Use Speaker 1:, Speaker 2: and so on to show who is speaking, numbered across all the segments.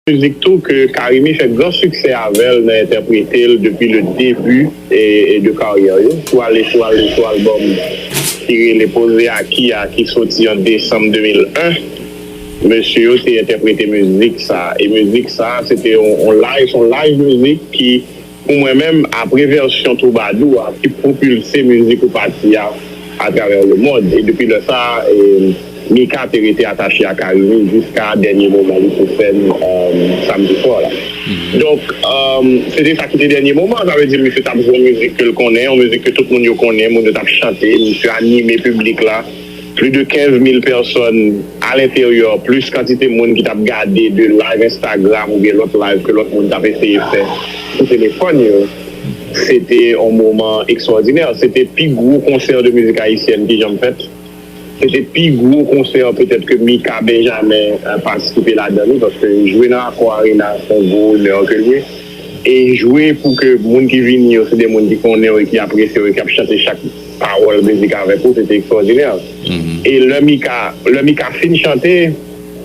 Speaker 1: Mizik tou ke Carimi fè gran siksè avè l nan entèprete l depi le debi de karyè yo sou ale sou ale sou albòm ki rele Poze Aki a ki soti an desanm 2001. Mesye yo te entèprete mizik sa e mizik sa se te yon live, son live mizik ki. Pou mwen menm, apre vèsyon twoubadou a ki pwopilse mizik ou pati a atravè lemond, e depi lè sa a, Mika te rete atache a Carimi jiska dènye moman li sou sèn samdi swa la. Donk, se te sa ki te dènye moman an, sa vle di misye t ap jwe yon mizik ke l konnen, yon mizik ke tout moun yo konnen, moun yo t ap chante, misye anime piblik la. Pli de 15 mil pèsòn a lenteryè plis kantite moun ki tap gade 2 live Instagram oubyen lòt live ke lòt moun tap eseye fè sou telefòn yo. Se te yon moman ekstwòdinè. Se te pi gwo konsè de mizik ayisyèn ki janm fèt. Se te pi gwo konsè petèt ke Mika Benjamen patisipe ladan li paske jwe nan Accor Arena se yon gwo onè ke l ye. E jwe pou ke moun ki vini yo se de moun ki konnen w e ki apresye w e ki ap chante chak. pawòl mizik avèk ou se te ekstwòdinè e lè Mika lè Mika fin chante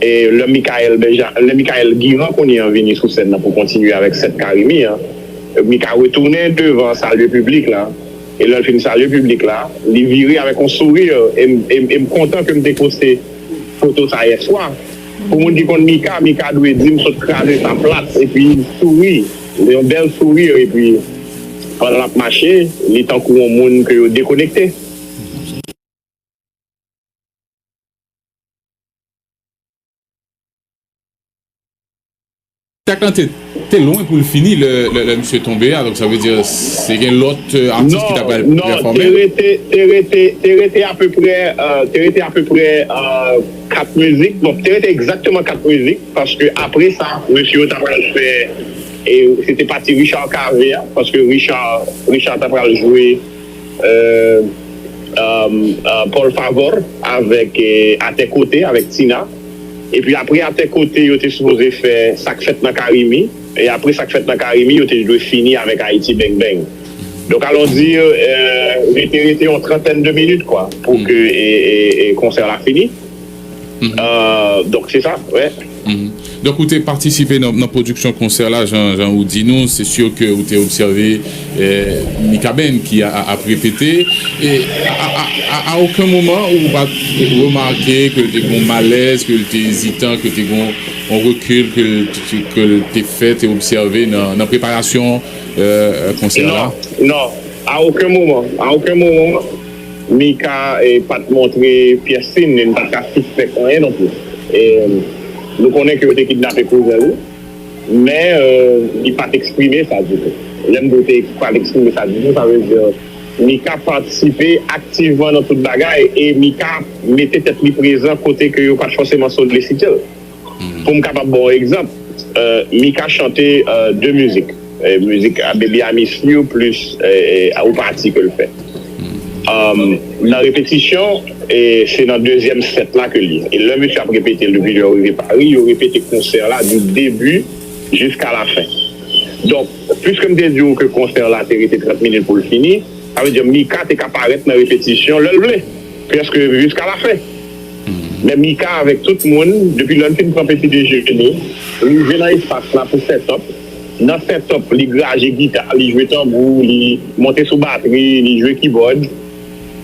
Speaker 1: e lè Mickaël Benja lè Mickaël Guirand kounye an vini sou sèn nan pou kontinye avèk 7 Carimi an Mika retounen devan salye piblik la e lè l fin salye piblik la li vire avèk yon souri e m e m kontan ke m te poste foto sa yèswa pou moun ki konn Mika Mika dwe di m sot kraze sa plat epi souri. Yon bèl sourire epi pandan lap mache li tankou yon moun ke yo dekonekte.
Speaker 2: Tèks lan te lwen pou l fini lè misye tonbe a donk sa vle di se gen lòt atis ki ta pral pèfòme. Non,
Speaker 1: te rete apeprè. 4 mizik, bon te rete egzakteman 4 mizik paske apre sa mesye yo ta pral fè e se te pati Richard Cavé a paske Richard Richard ta pral jwe Paul Favor avèk A tè kote avèk Tina epi apre A tè kote yo te sipoze fè Sak fèt nan Carimi e apre Sak fèt nan Carimi yo te dwe fini avèk Ayiti Beng Beng. Donc allons dire li te rete yon trantèn de minit kwa pou ke konsè la fini donk se sa wi. Donk ou te
Speaker 2: patisipe nan pwodiksyon konsè la jan ou di nou se sur ke ou te obsève Mikaben ki ap repete e a oken moman ou pat remake ke l te gon malèz ke l te ezitan ke l te gon on rekil ke l te fè te obsève nan preparasyon konsè la? Non, a
Speaker 1: oken moman, a oken moman Mika pa t montre pyès sin e n pa t ka sispèk anyen non plis. Nou konnen ke yo te kidnape kouzen li, men li pa t eksprime sa ditou. Lè m di w te pa t eksprime sa ditou, sa vle di Mika patisipe aktivman nan tout bagay e Mika mete tèt li prezan kote ke yo pa t fòseman solisite l. Pou m kapab ba w egzanp, Mika chante de mizik, mizik Baby I Miss You plis yon pati ke l fè nan repetisyon, se nan dezyèm sèt la ke li. E lè mesye ap repete l depi lè yo rive Pari, yo repete konsè la di debi jiska lafen. Donk, piske m te di w ke konsè la te rete 30 minit pou l fini, sa vle di Mika te ka parèt nan repetisyon lè l vle, prèske jiska lafen. Lè Mika avèk tout moun, depi lè l fin pran peti dejene, rive nan espas la pou sètòp, nan sètòp li graje gita, li jwe tanbou, li monte sou batri, li jwe kibòd,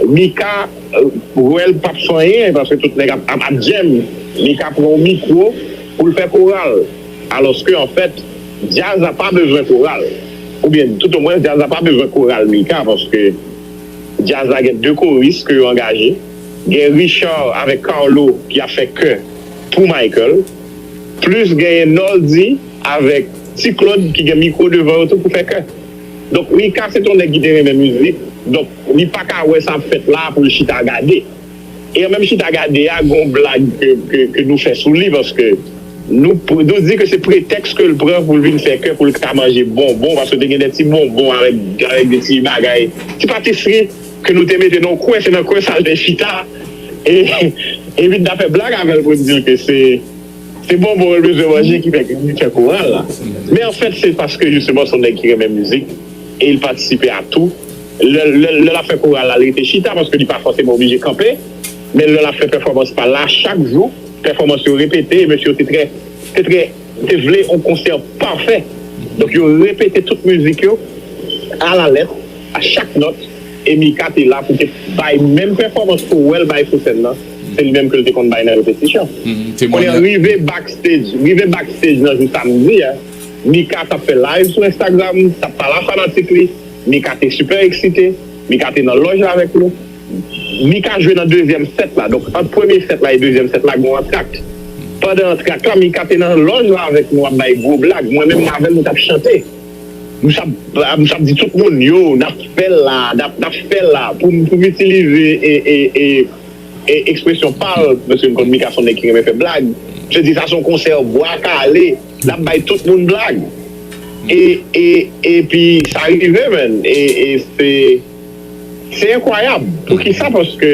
Speaker 1: Mika wè l pap fanyen paske tout nèg ap ap djèm, Mika pran yon mikwo pou l fè koral, alòske anfèt djaz la pa bezwen koral, oubyen toutomwens djaz la pa bezwen koral Mika paske djaz la gen 2 koris ke yo angaje. Gen Richard avèk Carlo ki ap fè kè pou Michael. Plis genyen Noldy avèk Ti Claude ki gen mikwo devan yo tou pou fè kè. Donk Mika se t on nèg ki te renmen mizik, donk li pa ka wè sa ap fèt la a pou l chita gade. E an menm chita gade a gen on blag ke nou fè sou li paske nou di ke se pretèks ke l pran pou l vin fè kè pou l ka manje bonbon paske te gen de ti bonbon avèk de ti bagay, ti patisri. Ke nou te mete nan yon kwen, se nan kwen sa l te chita. E Evita ta fè blag avè l pou l di l ke se se bonbon l bezwen manje ki fè li fè koral la. Men anfèt se paske jisteman se yon nèg ki renmen mizik e li patisipe a tou. Lè l ap fè koral la, li rete chita paske li pa fòseman oblije kanpe. Men lè l ap fè pèfòmans pa l la, chak jou pèfòmans yo repete e mesye yo te trè te trè te vle yon konsè pafè. Donk yo repete tout mizik yo alalèt. a chak nòt e Mika te la pou te bay menm pèfòmans ke w wè l bay sou sèn nan, se li menm ke l te konn bay nan repetisyon. Kounye a rive backstej rive backstej nan jou samdi a, Mika t ap fè live sou Instagram, t ap pale a fanatik li, Mika te sipè eksite, Mika te nan lòj la avèk nou. Mika jwe nan dezyèm sèt la, donk ant premye sèt la e dezyèm sèt la gen yon antrakte. Pandan antrakte la Mika te nan lòj la avèk nou ap bay gwo blag, mwen menm m avè l nou t ap chante. M sap m sap di tout moun yo nap fèl la nap nap fèl la pou m pou m itilize e e e e ekspresyon pa l paske m konn Mika s on nèg ki renmen fè blag m se di sa s on konsè bwa kale nap bay tout moun blag e e epi sa rive man e e se se enkwayab poukisa paske.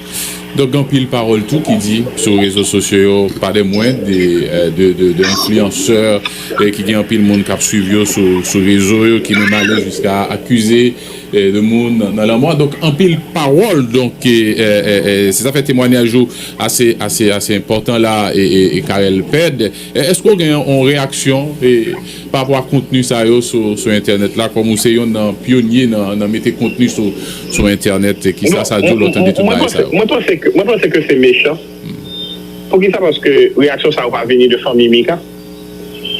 Speaker 2: Donk gen anpil pawòl tou ki di sou rezo sosyo yo pa de mwen de enfliyansè ki gen anpil moun kap swiv yo sou rezo yo ki menm ale jiska akize de moun nan lanmò donk anpil pawòl donk se sa fè temwanyaj ou ase enpòtan la e Carel Pède. Èske ou gen yon reyaksyon pa rapò a kontni sa yo sou entènèt la kòm ou se yonn nan pyonye nan mete kontni sou entènèt? Kisa sa di w lè w tande tout bagay sa yo? Mwen panse ke, mwen panse
Speaker 1: ke se mechan. Poukisa? Paske reyaksyon sa yo pa vini de fanmi Mika.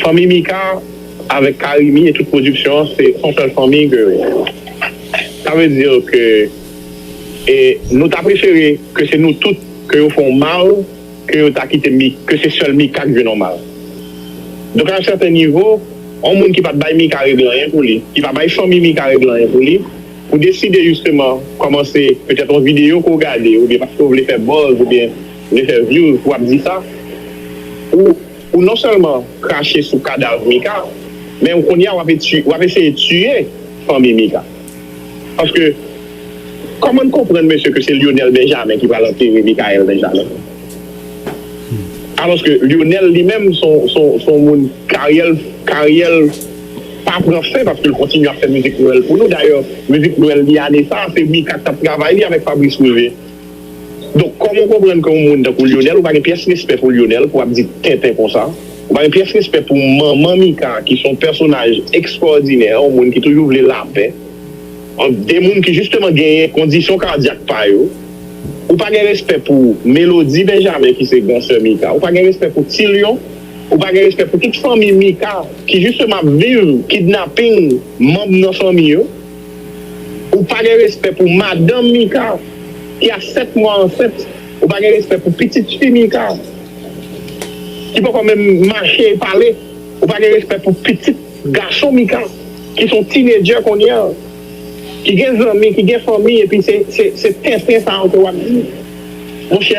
Speaker 1: Fanmi Mika avèk Carimi e tout pwodiksyon an se yon sèl fanmi ke sa vle di ke nou ta prefere ke se nou tout ke yo fè yon mal. ke yo ta kite Mik, ke se sèl Mika k jwe nòmal. Donk a yon sèten nivo, yon moun ki pat bay Mika regle anyen pou li, ki pa bay fanmi Mika regle anyen pou li, pou deside jisteman kòmanse petèt yon videyo ke w gade oubyen paske w vle fè buzz oubyen vle fè views pou w ap di sa, ou ou non sèlman krache sou kadav Mika, men kounye a w ap eseye tiye fanmi Mika. Paske Koman n konprann mesye ke se Lyonel Benjamin ki pral antere Mickaël Benjamin? Aloske Lyonel li menm s on moun karyè l karyè l pa pran fen paske l kontinye ap fè mizik nwèl pou nou dayè mizik nwèl li ane sa se Mika k t ap travay li avèk Fabrice Revie. Donk kòm ou konprann ke yon moun tankou Lyonel ou pa gen pyès respè pou Lyonel pou ap di tenten konsa, ou pa gen pyès respè pou manman Mika ki son pèsonaj ekstwòdinè, yon moun ki toujou vle lapè ant 2 moun ki jisteman genyen kondisyon kadyak pa yo, ou pa gen respè pou Melodie Benjamin ki se gran sè Mika, ou pa gen respè pou Ti Lyon, ou pa gen respè pou tout fanmi Mika ki jisteman ap viv kidnaping manb nan fanmi yo. Ou pa gen respè pou madanm Mika ki a 7 mwa ansent, ou pa gen respè pou pitit fi Mika ki poko menm mache e pale, ou pa gen respè pou pitit gason Mika ki son tinedjè kounya ki gen zanmi, ki gen fanmi epi se tenten sa yo ke wap di monchè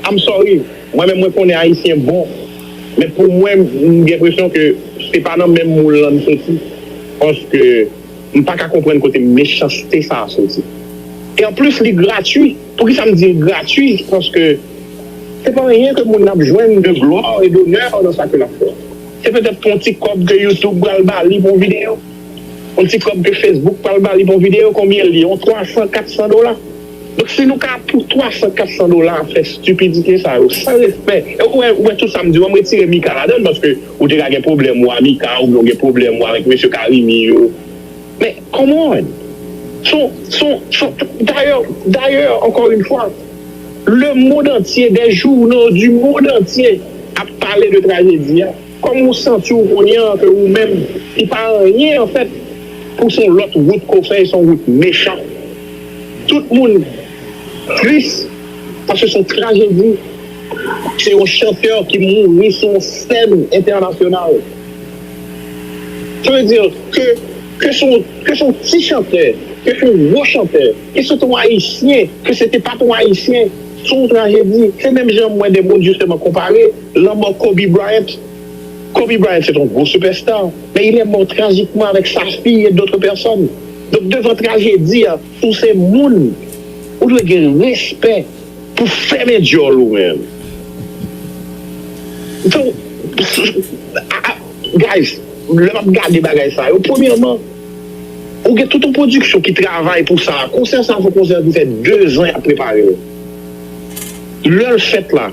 Speaker 1: I'm sorry mwen menm mwen konnen ayisyen bon men pou mwen m gen presyon ke se pa nan menm moul lan n soti paske. M pa ka konprann kote mechanste sa a soti. E anplis li gratwi. Poukisa m di l gratwi? Paske se pa anyen ke moun nan ap jwenn de glwa e donè nan sa ke l ap fè. Se petèt pou yon ti kòb ke YouTube pral ba li pou yon videyo. Yon ti kòb ke Facebook pral ba li pou yon videyo. Konbyen l ye? Yon 300, 400 dola. Donk si nou ka pou 300, 400 dola fè stupidite sa yo san respè ou wè ou wè tout sa m di ou an m retire Mika ladan l paske ou te ka gen pwoblèm ou a Mika oubyen ou gen pwoblèm ou avèk mesye Carimi yo men come on son son son dayè dayè encore une fois le monde entier des journaux du monde entier ap pale de tragedie a. Kòm ou santi w kounye an ke ou menm li pa anyen anfèt pou son lòt wout ke w fè e son wout mechan tout moun tris paske son trajedi se yon chantè ki mouri sou yon sèn entènasyonal sa vle di ke ke son ke son ti chantè ke son gwo chantè ke se te yon ayisyen ke se te pat yon ayisyen son trajedi se menm jan mwen de moun jisteman konpare. Lanmò Kobe Bryant Kobe Bryant se te yon gwo sipèsta, men il è mò trajikman avèk sa fi e dotre pèsòn. Donk devan trajedi a, si w se moun, ou dwe gen respè pou fèmen dyòl ou men. Fè w Guys, lè m ap gade bagay sa yo, premyèman, ou gen tout yon pwodiksyon ki travay pou sa. Konsè sa se yon konsè ki fè dezan y ap prepare l. Lè l fèt la.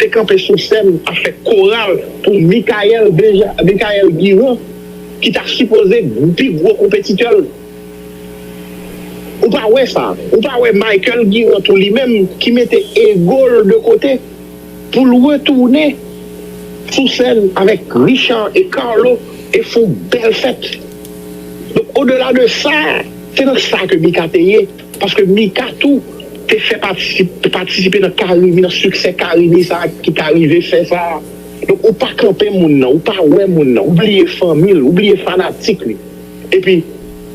Speaker 1: te kanpe sou sèn ap fè koral pou Mickaël Benja Mickaël Guirand ki ta sipoze pi gwo konpetitè l Ou pa wè sa Ou pa wè Michael Guirand tou li menm ki mete ego l de kote pou l retounen sou sèn avèk Richard e Carlo e fon bèl fèt Donk odela de sa se nan sa ke Mika te ye. Paske Mika tou te fè pati patisipe nan Carimi nan siksè Carimi sa ki ta rive fè sa donk ou pa kanpe moun nan ou pa wè moun nan ou bliye fanmi l ou bliye fanatik li epi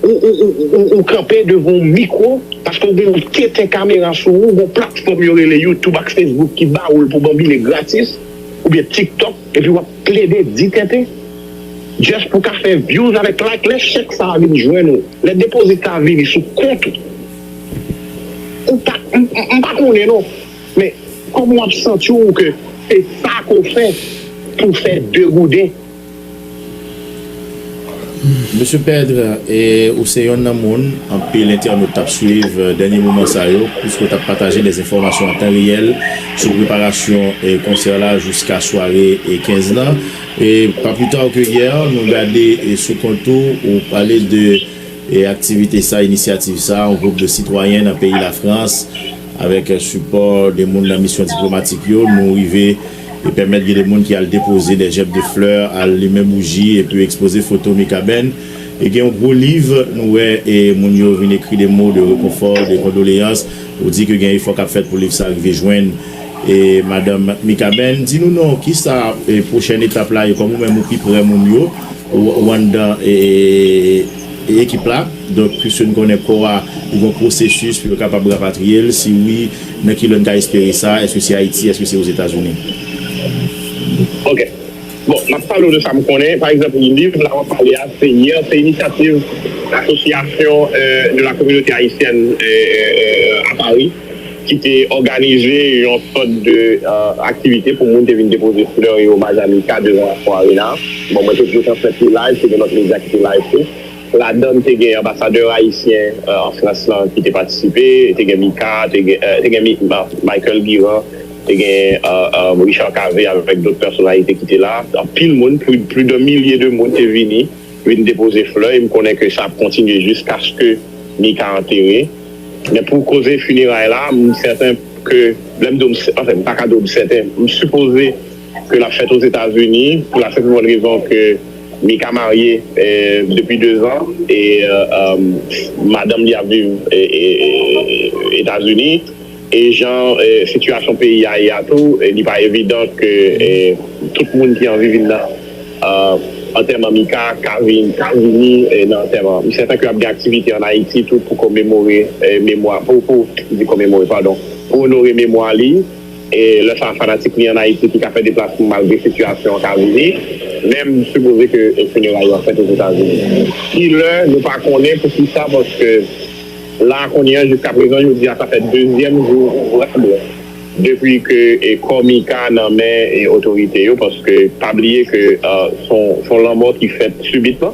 Speaker 1: ou ou ou ou kanpe devan yon mikwo paske ou gen yon tenten kamera sou ou gon platfòm yo rele youtube ak fesbouk ki ba ou l pou banbile gratis oubyen tiktok epi wap Plede di tenten just pou ka fè views avèk like lè chèk sa vin jwenn ou lè depozit sa vini sou kont ou ou pa m pa konnen non men kòman wap santiw ke se sa ke w fè pou fè 2 gouden.
Speaker 3: Mesye Pedre ou se yonn nan moun anpil entènot tap swiv dènye moman sa yo pwiske w tap pataje dè enfòmasyon an tan reyèl sou preparasyon konsè la jiska sware 15 lan e pa pli ta ke yè nou gade sou kont ou ou pale de aktivite sa inisyativ sa yon gwoup de sitwayen nan peyi Lafrans avèk sipò de moun nan misyon diplomatik yo nou rive e pèmèt gen de moun ki al depoze dè jèb de flè, al limen bouji epi ekspoze foto Mikaben. E gen yon gwo liv nou wè e moun yo vin ekri de mo de rekonfò, de kondoleyans. Ou di ke gen efò k ap fèt pou liv sa rive jwenn e madanm Mikaben. Di nou non, ki sa e pwochèn etap la e kòm ou menm ou pi prè moun yo, ou anndan e ekip la, donk piske nou konnen kò a li gen yon pwosesis pou yo kapab rapatriye l, si wi, Nan ki lè n ka espere sa? Èske se Ayiti? Èske se Ozetazini?
Speaker 1: Ok. Bon, m ap pale w de sa m konnen. Pa egzanp, liv la w ap pale a, se Hier, se inisyativ Association de la communauté haïtienne à Paris ki te òganize yon sòt de aktivite pou moun te vin depoze flè e omaj amika devan Accor Arena. Bon, mwen te plis an fèt li live, te gen lòt medya ki te live tou. Ladann te gen anbasadè ayisyen an Frans lan ki te patisipe, te gen Mika, te gen Michael Guirand, te gen Richard Cavé avèk dòt pèsonalite ki te la. Anpil moun, plis dan milye de moun te vini, vin depoze flè e m konnen ke sa ap kontinye jiskaske Mika antere. Men pou koze fineray la, m sèten ke, lè m di w, anfen m pa ka di w m sèten, m sipoze. ke lap fèt Ozetazini pou la senp e bòn rezon ke Mika marye depi 2 zan e madanm li ap viv Etazini e jan sitiyasyon peyi a ye a tou li pa evidan ke tout moun ki anvi vin nan antèman Mika ka vini nan antèman m sèten ke ap gen aktivite an Ayiti tou pou komemore memwa pou pou di komemore padon pou onore memwa li. Lè sa fanatik li an Ayiti ki ka fè deplasman malgre sitiyasyon an ka vini, menm sipoze ke fineray yo ap fèt Ozetazini. Kilè nou pa konnen poukisa paske la a kounye an jiska prezan jodi a sa fè dezyèm jou ouvrab depi ke kò Mika nan men otorite yo paske pa bliye ke son lanmò ki fèt sibitman.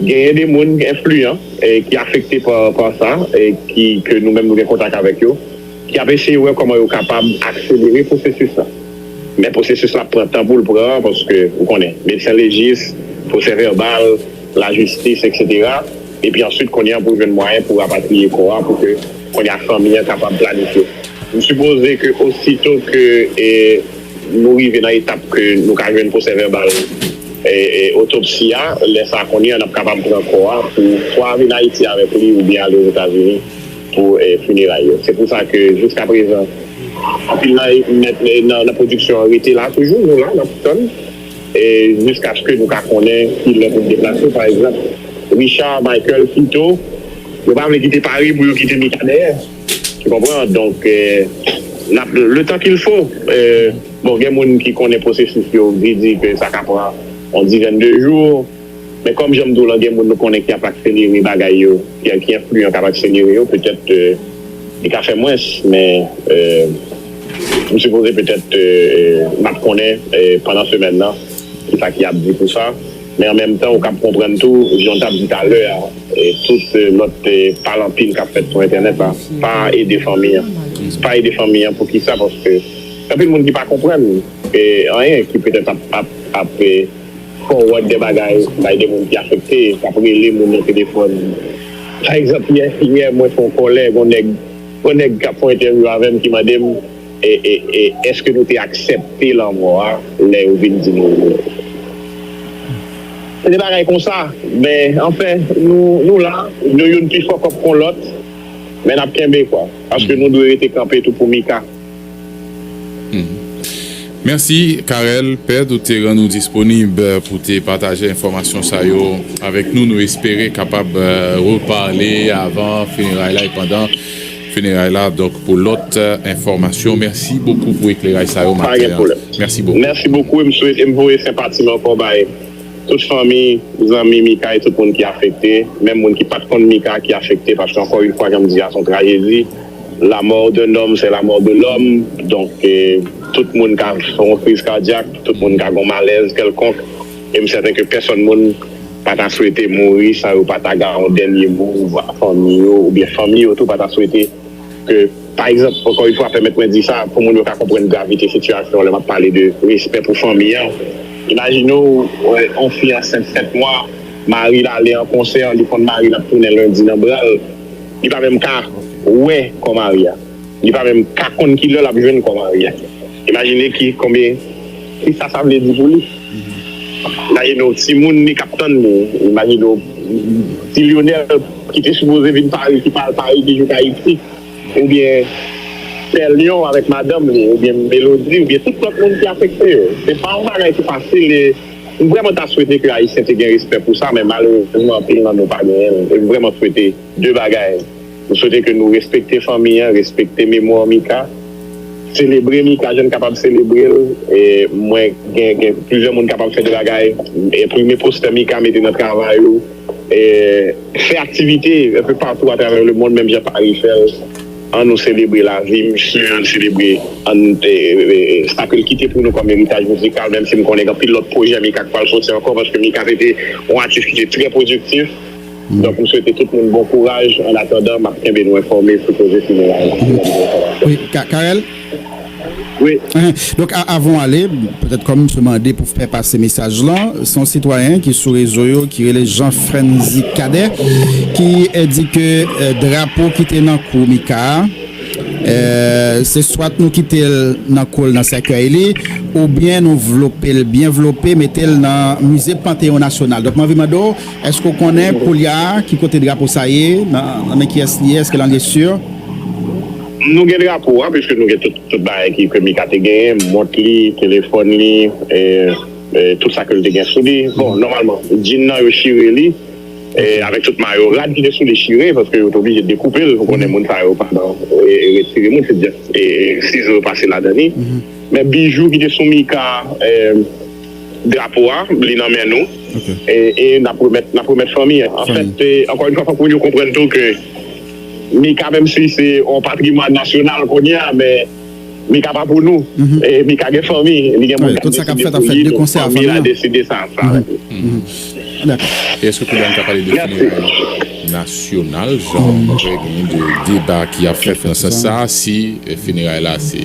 Speaker 1: Genyen de moun enfliyan ki afekte pa sa, ke nou menm nou gen kontak avèk yo, ki ap eseye wè kòman yo kapab akselere pwosesis la. Men pwosesis la ap pran tan pou l pran, paske ou konnen, medsen lejis, pwosè vèbal, lajistis eksetera, epi answit kounye a pou jwenn mwayen pou rapatriye kò a pou ke kounye a fanmi an kapab planifye. M sipoze ke osito ke. Nou rive nan etap ke nou ka jwenn pwosè vèbal otopsi a. Lè sa kounye a n ap kapab pran kò a pou swa vin Ayiti avèk li oubyen ale Ozetazini pou fineray yo. Se pou sa ke jiska prezan anpil nan pwodiksyon an rete la toujou. Nou la n ap tann jiskaske nou ka konnen ki lè pou n deplase. Pa egzanp, Richard, Michael, Tito yo pa vle kite Pari pou yo kite Mika dèyè. Tu comprends? Donk n ap le tan kil fo. Bon gen moun ki konnen pwosesis yo ki di ke sa ka pran yon dizèn de jou. Men kòm jan m di w lan gen moun nou konnen ki ap akselere bagay yo, ki enfliyan k ap akselere yo. Petèt li ka fè mwens men m sipoze petèt n ap konnen pandan semèn nan ki sa ki ap di pou sa. Men an menm tan ou kab konprann tou, jan w t ap di talè a, tout lòt pale anpil k ap fèt sou entènèt la pa ede fanmi an. Pa ede fanmi an poukisa? Paske gen anpil moun ki pa konprann anyen, ki petèt ap fowòd de bagay bay de moun ki afekte, k ap rele moun nan telefòn. Pa egzanp, yè mwen fè yon kòlè, gen yon nèg k ap fè yon entèvyou avè m ki mande m, Èske nou te aksepte lanmò a lè yo vin di nou yo? Se de bagay konsa, men anfen, nou la, nou youn pi fòkòp kon lòt, men n ap kenbe kwa, paske nou dwe rete kanpe tou pou Mika.
Speaker 2: Mèsi Carel Pèd ou te rann ou disponib pou te pataje enfòmasyon sa yo avèk nou. Nou espere kapab repale avan fineray la e pandan. Funeray la donk pou lot enfomasyon merci bokou pou ekleray sa yo maten an merci bokou. Merci bokou em swete
Speaker 1: em voye senpatim anko bay tout fanmi zanmi Mika e tout moun ki afekte menm moun ki pat konn Mika ki afekte paske anko yn fwa janm di a son trajedi la mort d'un homme c'est la mort de l'homme donk tout moun ka fon kriz kardyak tout moun ka gon malèz kelkonk em sèten ke pèsòn moun pa ta swete mouri san yo pa ta ga yon dènye mo a fanmi yo oubyen fanmi yo tou pa ta swete ke pa egzanp ankò yn fwa pèmèt mwen di sa pou moun yo ka konprann gravite sitiyasyon lè map pale de respè pou fanmi an imajine w yon fi ansent 7 mwa mari l ale an konsè li konn mari l ap tounen lendi nan bra l li pa menm ka wè kò mari a li pa menm ka konn kilè lap jwenn kò mari a. Imajine ki konbyen kisa sa vle di pou li. Imajine w timoun li k ap tann li. Imajine w ti Lyonel ki te sipoze vin Pari ki pa al Pari ki jouk Ayiti. Oubyen Pè Lyon avèk madanm li. Oubyen Melodi. Oubyen tout lòt moun ki afekte yo. Se pa yon bagay ki fasil e m vrèman ta swete ke Ayisyen te gen respè pou sa men malerezman anpil nan nou pa genyen l e m vrèman swete 2 bagay, m swete ke nou respekte fanmi an, respekte memwa Mika, selebre Mika jan n kapab selebre l, mwen gen gen plizyè moun kapab fè 2 bagay, enprime postè Mika mete nan travay ou, fè aktivite enpe patou atravè lemonn menm jan Paris fè l, an nou selebre lavi misye, an n selebre sa ke l kite pou nou kòm eritaj mizikal, menm si m konnen gen anpil lòt pwojè Mika k pral soti ankò paske Mika se te yon atis ki te trè pwodiktif. Donk m swete tout moun bon kouraj an atandan map kenbe nou enfòme sou koze fineray la si gen nouvo enfòmasyon.
Speaker 4: Wi Carel?
Speaker 1: Wi. Donk
Speaker 4: avan w ale, petèt kòm m se mande pou fè pase mesaj lan, se yon sitwayen ki sou rezo yo ki rele Jean Frantzy Cadet ki di ke drapo ki te nan kou Mika a se swat nou kite l nan kou l nan sèkèy li oubyen nou vlope l byen vlope mete l nan mize Panteyon Nasyonal. Donk m anvi mande w Èske w konnen koulye a ki kote drapo sa ye, nan men kiyès li ye, èske lan lye sur?
Speaker 1: Nou gen drapo a piske nou gen tout bagay ke Mika te genyen, mont li, telefòn li, tout sa ke l te gen sou li. Bon, nòmalman, djinn nan yo chire li, avèk tout mayo, rad ki te sou li chire, paske yo te oblije dekoupe l, ou konnen moun sa yo pa nan retire moun, se just sizo yo pase ladan li. Men bijou ki te sou Mika. Drapo a, li nan men nou e n ap remèt n ap remèt fanmi an. Anfèt, ankò yon fwa, fòk moun yo konprann tou ke Mika, menm si se yon patrimwàn nasyonal kounye a, men Mika pa pou nou. Mika gen fanmi, li gen moun k ap deside
Speaker 4: pou li, donk fanmi l a deside sa. E èske kounye
Speaker 2: a n ka pale de fineray nasyonal, jan gen de deba ki ap fèt nan sans sa a, si fineray la se.